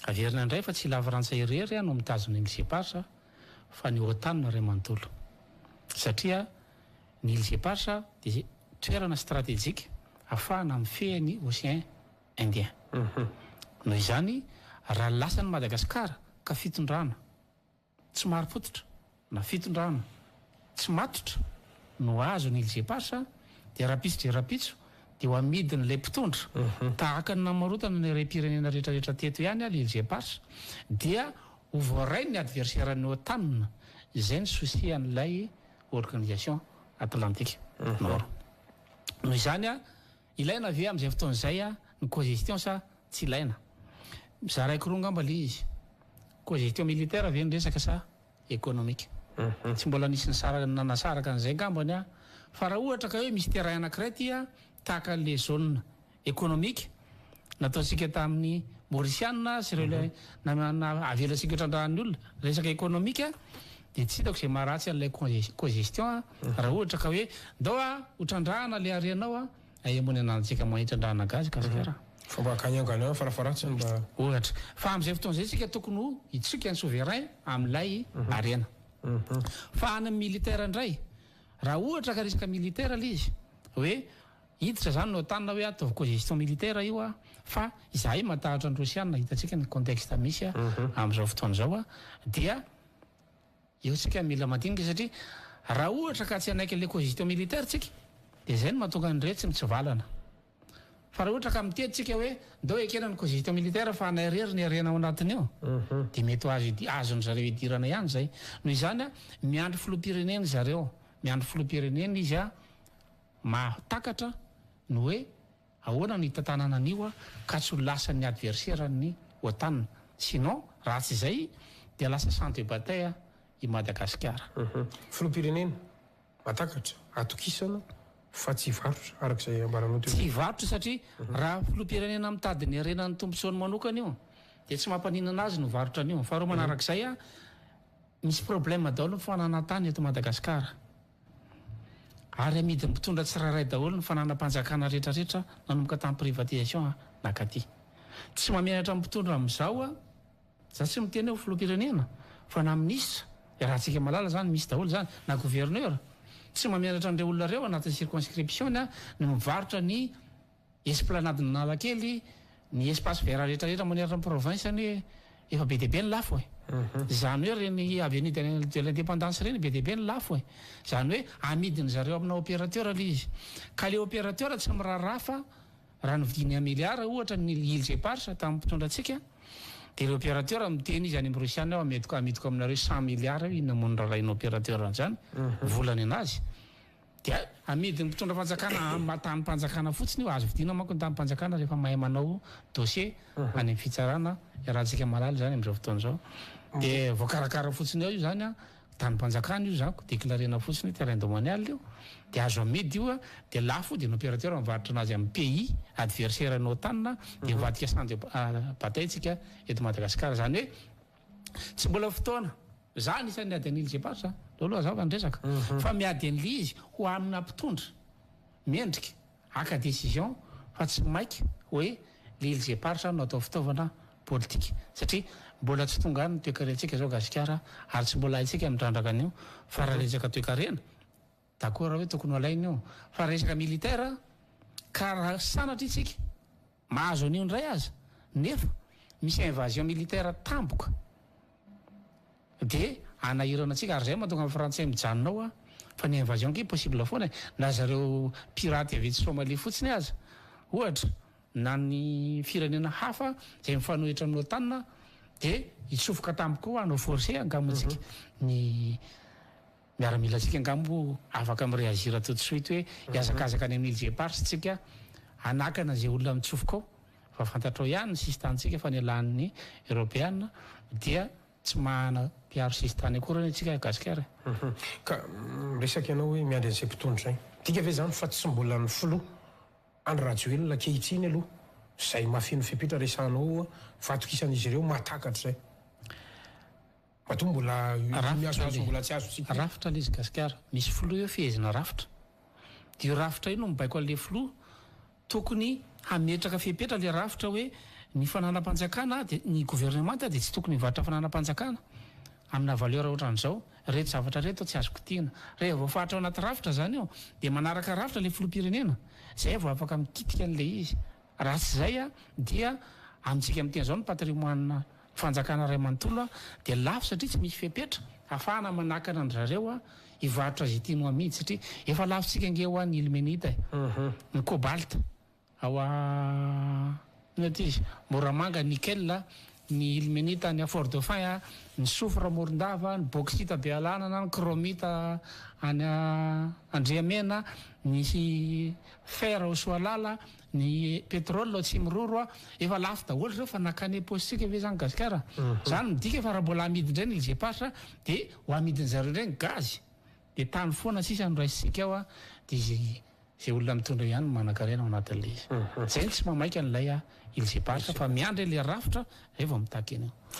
Averina indray fa tsy i Lafrantsa irery no mitazona i Lgph fa ny Otan no ray manontolo. Satria ny Lgph dia toerana stratejika afahana mifehy ny Ocean Indien. Noho izany, raha lasan'i Madagasikara ka fitondrana, tsy marim-pototra na fitondrana tsy matotra no azo ny LGPH dia rahampitso dia rahampitso dia ho amidin'ilay mpitondra tahaka ny namarotana ny harem-pirenena rehetrarehetra teto ihany alo LGPH dia ho voarain'ny adversaire-ny OTAN izay ny souci an'ilay organisation Atlantique Nord noho izany Ilaina ve amin'izay fotoana izay ny cogestion sa tsy ilaina? Mizaraiko roa angamba le izy. Cogestion militaire ve ny resaka sa economique? Tsy mbola nisy nisaraka nanasaraka an'izay angambany aho fa raha ohatra ka hoe misy terrain anankiray ty a, tahaka an'le zone economique nataontsika tamin'ny Mauriciana sy ireo le na- na- avela antsika ho trandrahan'ny olona resaka economique Dia tsy hitako izay maharatsy an'ilay congestion an, raha ohatra ka hoe ndao a, ho trandrahana ilay harenao a, ay moa ny ananantsika mahay trandrahana gasy gasikara. Fa mba akany angano any farafaharatsiny mba. Ohatra. Fa amin'izay fotoana izay isika tokony ho hitsoika ny souverain amin'ilay harena. Fa any amin'ny militaire indray, raha ohatra ka resaka militaire ilay izy, hoe hiditra izany ny otan hoe ataovy congestion militaire io a, fa izahay matahotra ny rosiana, hitantsika ny contexte misy amin'izao fotoana izao a, dia. Io tsika mila mandinika satria raha ohatra ka tsy hanaiky le cogito militaire tsika de zay no mahatonga an'ireo tsy mitsivalana. Fa raha ohatra ka mitety tsika hoe ndao ekena ny cogito militaire fa anay rery ny harena ao anatiny ao de mety ho azo azony zareo idirana ihany zay. Noho izany a miandry filoham-pirenena zareo miandry filoham-pirenena izy a mahatakatra ny hoe Ahoana no hitantanana an'io ka tsy ho lasan'ny adverseran'ny Otan? Sinon, raha tsy izay dia lasa champ de bataille i Madagasikara. Filoham-pirenena mahatakatra atokisana fa tsy hivarotra, araka izay ambaranao teo. Tsy hivarotra satria raha filoham-pirenena mitady ny harenan'ny tombotsoany manokana io dia tsy mampaninona azy ny mivarotra an'io. Faharoa manarak'izay, misy problème daholo ny fananantany eto Madagasikara. Ary amidin'ny mpitondra tsirairay daholo ny fananam-panjakana rehetra rehetra nanomboka tamin'ny privatisation nakaty. Tsy mamenatra ny mpitondra amin'izao aho, za tsy miteny hoe filoham-pirenena fa na minisitra, iarahantsika malala zany misy daholo zany, na gouverneur, tsy mamenatra an'ireo olona ireo anatin'ny circonscription-ny aho ny mivarotra ny Esplanade Analakely, ny espace vert rehetra rehetra manerana ny province anie efa be dia be ny lafo e! Izany hoe ireny avenue de l'in- de l'independance ireny be dia be ny lafo e! Izany hoe amidin-dry zareo amina opérateur ilay izy. Ka ilay opérateur tsy miraharaha fa raha novidiny un milliard ohatra ny îles éparses tamin'ny mpitondra antsika dia ilay opérateur miteny izy any amin'ny Rosiana hoe amidiko amidiko aminareo cent milliards eo inona moa no rarahiana opérateur an'izany? Vola nenazy. Dia amidy ny mpitondra fanjakana amin'ny tanim-panjakana fotsiny io, azo vidiana manko ny tanim-panjakana rehefa mahay manao dossier any amin'ny fitsarana, iarahantsika mahalala izany amin'izao fotoana izao, dia voakarakara fotsiny ao io izany an, tanim-panjakana io zany, declarena fotsiny hoe terrain domanial io, dia azo amidy io an, dia lafo dia ny opérateur mivarotra anazy amin'ny pays adversaire an'i OTAN dia mivadika sandwich bataintsika eto Madagasikara, izany hoe. Tsy mbola fotoana. Za anisan'ny miady an'ily Zepar za. Aleo aloha azava ny resaka. Fa miady an'ily izy ho amina mpitondra mendrika haka décision fa tsy maika hoe le ily Zepar zany no atao fitaovana politika. Satria mbola tsy tonga any ny toekarentsika zao Gasikara ary tsy mbola haintsika mitrandraka an'io fa raha resaka toekarena d'accord hoe tokony ho alaina io fa resaka militaire ka raha sanatria tsika Mahazo an'io indray aza nefa misy invasion militaire tampoka de anahirana antsika ary zay mahatonga ny frantsay mijanona ao fa ny invasion ki possible foana e na zareo pirate avy etsy somalia fotsiny aza ohatra na ny firenena hafa zay mifanohitra amin'ny otan de hitsofoka tampoka ao hanao force hankamotsika ny Miaramilantsika angaha moa afaka mi-reagir tout de suite hoe hihazakazaka any amin'ny Îles Éparses tsika hanakana izay olona mitsofoka ao fa fantatrao ihany ny sisin-tanintsika fa nialan'ny Eropeana dia tsy mahana mpiaro sisin-tany akory anie tsika Gasikara e! Ka miresaka ianao hoe miandry an'izay mpitondra izay. Midika ve izany fa tsy mbola ny filoha Andry Rajoelina ankehitriny aloha izay mahafeno fepetra resahanao oa fa atokisan'izy ireo mahatakatra izay? Matoa mbola iny azo azo mbola tsy azontsika. Rafitra lesy gasikara. Misy filoha eo fehezina rafitra. Dia io rafitra io no mibaiko an'ilay filoha. Tokony hametraka fepetra ilay rafitra hoe ny fananam-panjakana dia ny governemanta dia tsy tokony hivarotra fananam-panjakana amina valeur ohatran'izao. Ireto zavatra ireto tsy azo kitihina. Rehefa voafaritra ao anaty rafitra izany io dia manaraka rafitra ilay filoham-pirenena. Izay vao afaka mikitika an'ilay izy. Raha tsy izay dia amintsika amin'ny teny izao ny patrimoine Fanjakana iray manontolo dia lafo satria tsy misy fepetra hafahana manakana an-dry zareo hivarotra izay tiany ho amidy satria efa lafontsika ange hoa ny ilmenita e! ny cobalt ao a inona ity izy Moramanga, nickel a, ny ilmenita any Fort Dauphin a, ny soufre Morondava, ny bauxite Bealanana, ny chromite any Andriamena, ny fer ao Soalala, Ny pétrole ao Tsimiroro a, efa lafo daholo zao fa nakany am-paosy tsika ve zany Gasikara? Zany midika fa raha mbola amidy ndray ny LGPH de ho amidiny zareo ndray ny gaz. De tany foana sisa no raisintsika ao a, de izay izay olona mitondra ihany no manankarena ao anatin'ilay izy. Zay no tsy mamaika an'ilay a LGPH fa miandry ilay rafitra zay vao mitaky an'io.